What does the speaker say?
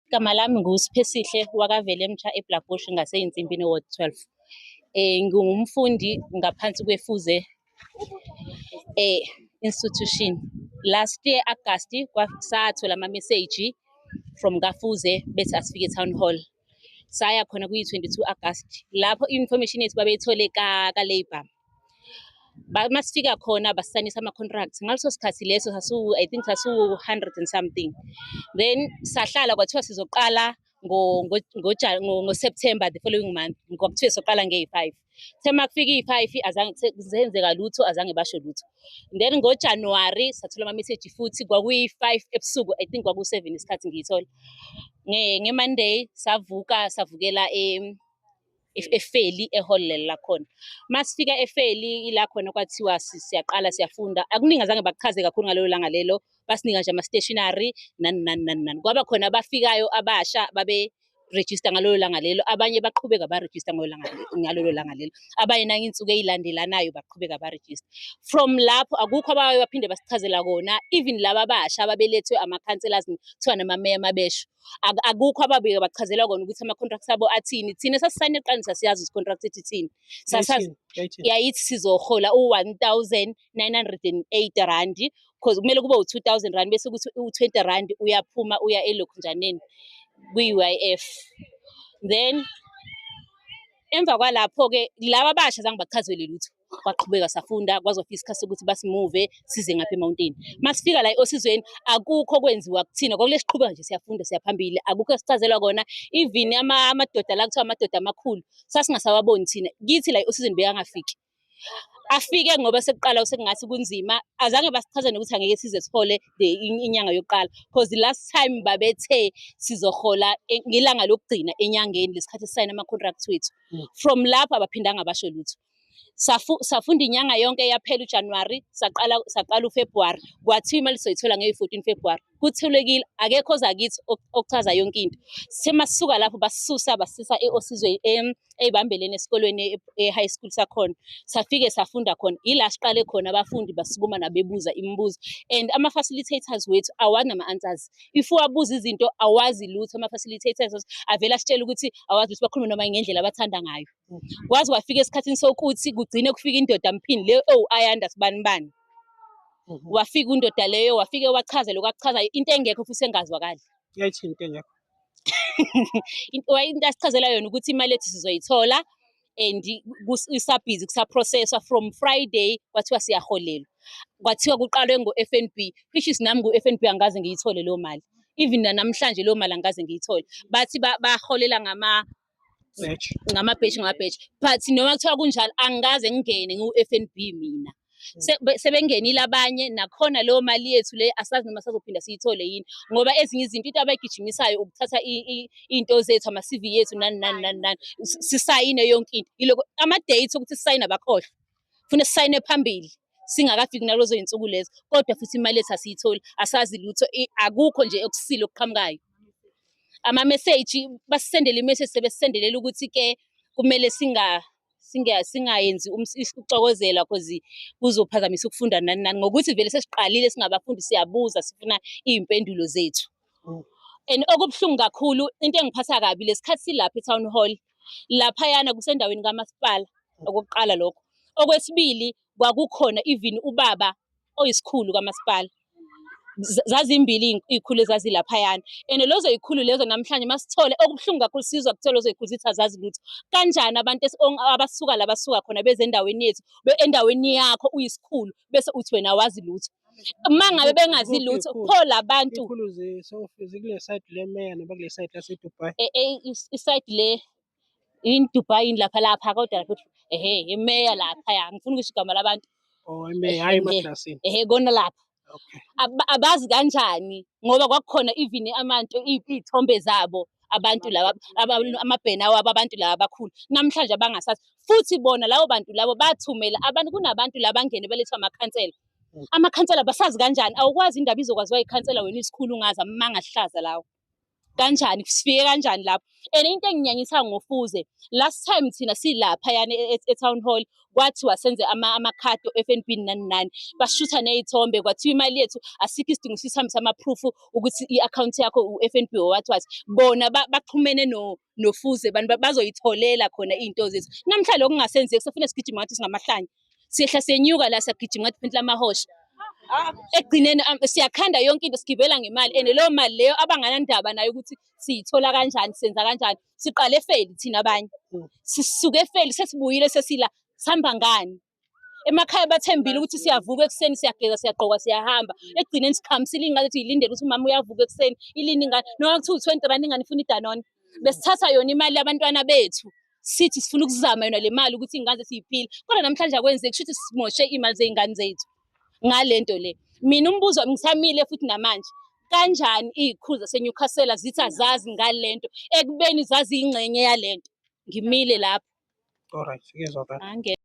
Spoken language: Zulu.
Igama lami nguSiphesihle wakaVelemtsha eBlackbush ngaseYinsimpini Ward 12. Eh ngingumfundi ngaphansi kweFuze eh institution. Last year August sathola ama message from kaFuze bethi asifike town hall. Saya khona kuyi 22 August lapho information yethu babeyithole ka ka labor. uma sifika khona basisanisa ama-contract ngaleso sikhathi leso i think sasiwu-hundred and something then sahlala kwathiwa sizoqala ngoseptember the following month kwakuthiwe soqala ngeyi-five the uma kufika iyi-five zenzeka lutho azange basho lutho then ngojanuwari sathola amameseji futhi kwakuyi-five ebusuku i think kwaku-seven isikhathi ngiyithola ngemonday savuka savukela efeli ehall leli lakhona masifika efeli ila khona kwathiwa siyaqala siyafunda akuningi azange bakuchaze kakhulu ngalelo langa lelo basinika nje ama-stationary nani nani nani nani kwaba khona abafikayo abasha babe register ngalolo langa lelo abanye baqhubeka baregister ngalolo langa lelo abanye nangiyinsuku eyilandelanayo baqhubeka baregister from lapho akukho abaye baphinde basichazela kona even laba abasha ababelethwe ama-councillors kuthiwa namameya mabesho akukho ababike bachazelwa kona ukuthi ama-contract abo athini thina sasisayine qanisa siyazi ukuthi contract ithi thini sasazi yayithi sizohola u-one thousand nine hundred and eight rand because kumele kube u-two thousand rand bese ukuthi u-twenty rand uyaphuma uya elokhunjaneni kwi-u i f then emva kwalapho-ke laba basha zange bachazelwe lutho kwaqhubeka safunda kwazofika isikhathi sokuthi basimuve size ngapha emawuntini masifika la osizweni akukho kwenziwa kuthina kwakule siqhubeka nje siyafunda siyaphambili akukho esichazelwa kona even amadoda la kuthiwa amadoda amakhulu sasingasawaboni thina kithi la osizweni bekangafiki afike ngoba sekuqala sekungathi kunzima azange basichaze nokuthi angeke size sihole inyanga yokuqala because the last time babethe sizohola e, ngelanga lokugcina enyangeni lesikhathi sisayina ama-contract wethu mm. from lapho abaphindanga basho lutho safunda inyanga yonke yaphela uJanuary saqala saqala uFebruary kwathiwa imali soyithola ngeyi-14 February kuthulekile akekho oza kithi okuchaza yonke into semasisuka lapho basisusa basisa eosizwe eyibambeleni esikolweni e-high school sakhona safike safunda khona yila siqale khona abafundi basukuma nabebuza imibuzo and ama-facilitators wethu awazi nama-answers if wabuza izinto awazi lutho ama-facilitators avele asitshele ukuthi awazi ukuthi bakhulume noma ngendlela abathanda ngayo kwaze kwafika esikhathini sokuthi kugcine kufika indoda mphini le owu oh, ayanda sibani bani mhm. wafika undoda leyo wafike wachaza lokhu akuchazayo into engekho futhi engazwakali yayithi into engekho into asichazela yona ukuthi imali ethu sizoyithola and isabhizi kusaprocesswa from friday kwathiwa siyaholelwa kwathiwa kuqalwe ngo-f n b which is nami ngu-f n b angikaze ngiyithole leyo mali even nanamhlanje leyo mali angikaze ngiyithole bathi baholela ngama ngamabheji ngamabheji but noma kuthiwa kunjalo angikaze ngingene ngiwu-f n b mina mm. sebengenile abanye nakhona leyo mali yethu le asazi noma sazophinda siyithole yini ngoba ezinye izinto into abayigijimisayo ukuthatha iy'nto zethu ama-cv yethu nani nani nani nani sisayine yonke into ilokho ama-date okuthi sisayine abakhohlwa funa sisayine phambili singakafiki nalozo zinsuku lezo kodwa futhi imali ethu asiyitholi asazi lutho akukho nje okusile okuqhamukayo ama message basisendele imessage sebesendelela ukuthi ke kumele singa singayenzi ukuxokozela cause kuzophazamisa ukufunda nani nani ngokuthi vele sesiqalile singabafundi siyabuza sifuna iy'mpendulo zethu and okubuhlungu kakhulu into engiphatha kabi lesikhathi silapha e-town hall laphayana kusendaweni kamasipala okokuqala lokho okwesibili kwakukhona even ubaba oyisikhulu kamasipala zazimbili iy'khulu ezazilaphayana and lezo y'khulu lezo namhlanje masithole okubuhlungu kakhulu sizwa kuthiwa lezo y'khulu zithi azazi lutho kanjani abantu abasuka la basuka khona bezendaweni yethu endaweni yakho uyisikhulu bese uthi wena awazi lutho uma ngabe bengazi lutho pho labantu isayidi le yini dubai yini lapha lapha kodwa lapha ehe imeya lapha ya ngifuna ukusho igama labantu oh imeya hayi emaklasini ehe kona lapha abazi kanjani ngoba kwakukhona even amantu iy'thombe zabo abantu laba amabhena wabo abantu laba abakhulu namhlanje abangasazi futhi bona labo bantu labo bathumela abantu kunabantu labangene belethwa amakhansela amakhansela basazi kanjani awukwazi indaba izokwaziwa ikhansela wena isikhulu ungazi amanga ahlaza lawo kanjani sifike kanjani lapho and into enginyanyisa ngofuze last time thina silapha yani e, e, e-town hall kwathiwa senze amakhadi ama o-f n b nani nani bashutha ney'thombe kwathiwa imali yethu asikho isidingo sisihambisa amaphrufu ukuthi i-akhawunti yakho u-f n b owathiwathi bona baxhumene ba no nofuze abantu bazoyitholela khona iy'nto zethu namhla lokhu kungasenzeki sefuna sigijima ngathi singamahlanya siyehla siyenyuka la siyagijima ngathi phenhla amahosha ekugcineni um, siyakhanda yonke into sigibela ngemali and leyo mali leyo abanganandaba nayo ukuthi siyithola kanjani senza kanjani siqale efeli thina abanye sisuke efeli sesibuyile sesila sihamba ngani Emakhaya bathembile ukuthi siyavuka ekuseni siyageza siyagqoka siyahamba. Ekugcineni sikhamisile ingane ukuthi ilindele ukuthi umama uyavuka ekuseni ilini ingane noma kuthiwa u-twenty rand ingane ifuna idanone. Besithatha yona imali yabantwana bethu sithi sifuna ukuzama yona le mali ukuthi iy'ngane zethu yiphile kodwa namhlanje akwenzeki kusho ukuthi simoshe iy'mali zey'ngane zethu ngale nto le. Mina umbuzo wami ngisamile futhi namanje kanjani iy'khulu zaseNewcastle zithi azazi ngale nto ekubeni zaziyingxenye yale nto. Ngimile lapho. Alright, ngiyezwa kahle. Ange-